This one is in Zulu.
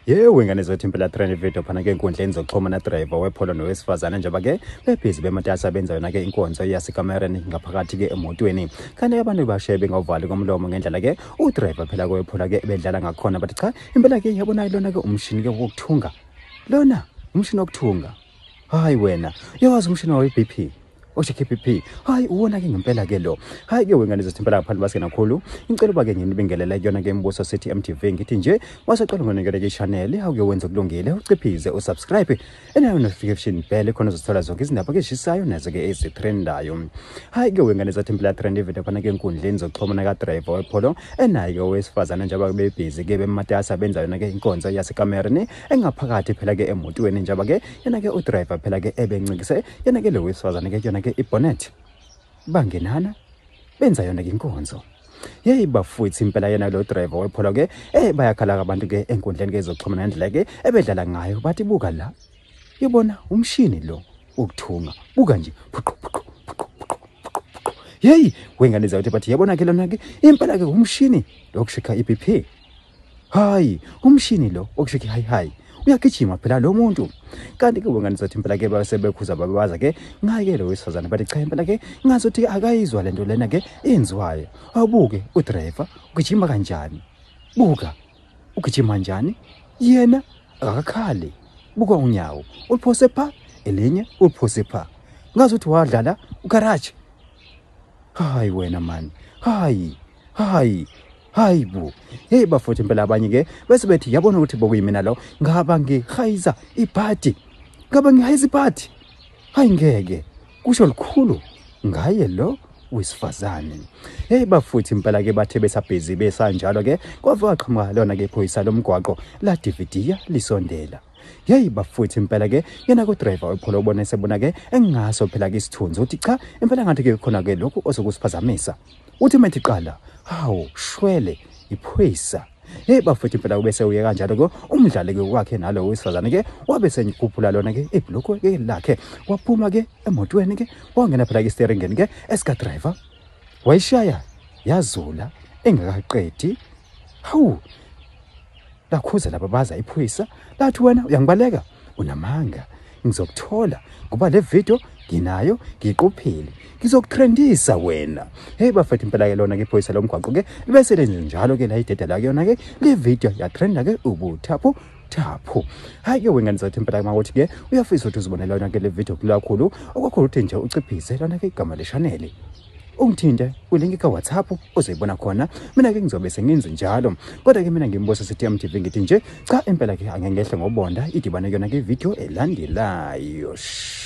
yewe ngane zethu impela trend video phana ke enkundleni zokuxhumana driver wepholo nowesifazane njengoba ke bebhizi bematasa benza yona ke inkonzo yasekamereni ngaphakathi ke emotweni kanti abantu bashe bengawuvali komlomo ngendlela ke udriver phela kowephola ke bedlala ngakhona bathi cha impela ke yabona lona ke umshini ke wokuthunga lona umshini wokuthunga hayi wena uyawazi umshini wawe-b p Oshe KPP. Hayi uwona ke ngempela ke lo. Hayi ke wengane zesithempela ngaphandle baske nakhulu. Incela uba ke nginibingelela kuyona ke imbuso sethi MTV ngithi nje wasacela ngonikele ke channel hawu ke wenza kulungile uciphize usubscribe enayo notification bell khona uzothola zonke izindaba ke zishisayo nazo ke ezitrendayo. Hayi ke wengane zathempela trend evete khona ke enkundleni zokuxhumana ka driver wepholo enayo ke owesifazana njengoba bebhizi ke bematasa benza yona ke inkonzo yasekamereni engaphakathi phela ke emotweni njaba ke yena ke udriver phela ke ebencikise yena ke lo wesifazane ke yona ke ibonnet bangenana benza yona ke inkonzo yeyi bafwethu impela yena lo driver wepholo ke eh bayakhala abantu ke enkundleni ke zokuxhumana nendlela ke ebedlala ngayo bathi buka la yibona umshini lo ukuthunga buka nje phuqu phuqu phuqu phuqu phuqu yeyi wengane zawuthi bathi yabona ke lona ke impela ke umshini lokushikha iBP hayi umshini lo okushekhi hayi hayi uyagijima phela lo muntu kanti-ke wengane zothi impela ke basebekhuza babebaza ke ngaye-ke lo wesifazane bathi cha impela ke ngazothi-ke akayizwa le nto lena ke enziwayo awubuke udrayiva ugijima kanjani buka ugijima njani yena akakakhali buka unyawo uluphose pha elinye uluphose pha ngazi ukuthi wadlala ugaraji hayi wena mani hayi hayi hayi bo heyi bafowethu impela abanye ke bese bethi yabona ukuthi bokuyimina lo ngaba ngihayiza ibhadi ngaba ngihayiza ibhadi hayi ngeke kusho lukhulu ngaye lo wesifazane hey bafuthi impela ke bathe besabhizi besanjalo ke kwava qhamuka lona ke phoyisa lomgwaqo la dividiya lisondela yeyi bafuthi impela ke yena kudriver upholo ubona esebona ke engaso phela ke isithunzi uthi cha impela ngathi ke khona ke lokhu osokusiphazamisa uthi uma ethi qala hawu shwele iphoyisa hey bafethu impela kube sewuye kanjalo ke umdlali ke kwakhe nalo wesifazane ke wabe senyikhuphula lona ke ibhloko ke lakhe waphuma ke emotweni ke wangena phela ke steeringeni ke esika driver wayishaya yazula engakaqedi hawu lakhuza lababaza iphoyisa lathi wena uyangibaleka unamanga ngizokuthola ngoba le video nginayo ngiqophile ngizokutrendisa wena heyi bafethu impela ke lona ke iphoyisa lomgwaqo ke bese lenze njalo ke la ideda la kuyona ke le video yatrenda ke ubuthaphu thaphu hayi ke wengane zathi impela kuma ukuthi ke uyafisa ukuthi uzibonela yona ke le video kulakhulu okwakhulu ukuthi nje uciphise lona ke igama leshanele ungithinte ulinki kawhatsapp uzoyibona khona mina-ke ngizobe sengenzi njalo kodwa-ke mina ngimbusa ctm tv ngithi nje cha impela-ke angengehle ngobonda idibane kuyona-ke ividiyo elandelayo Shh.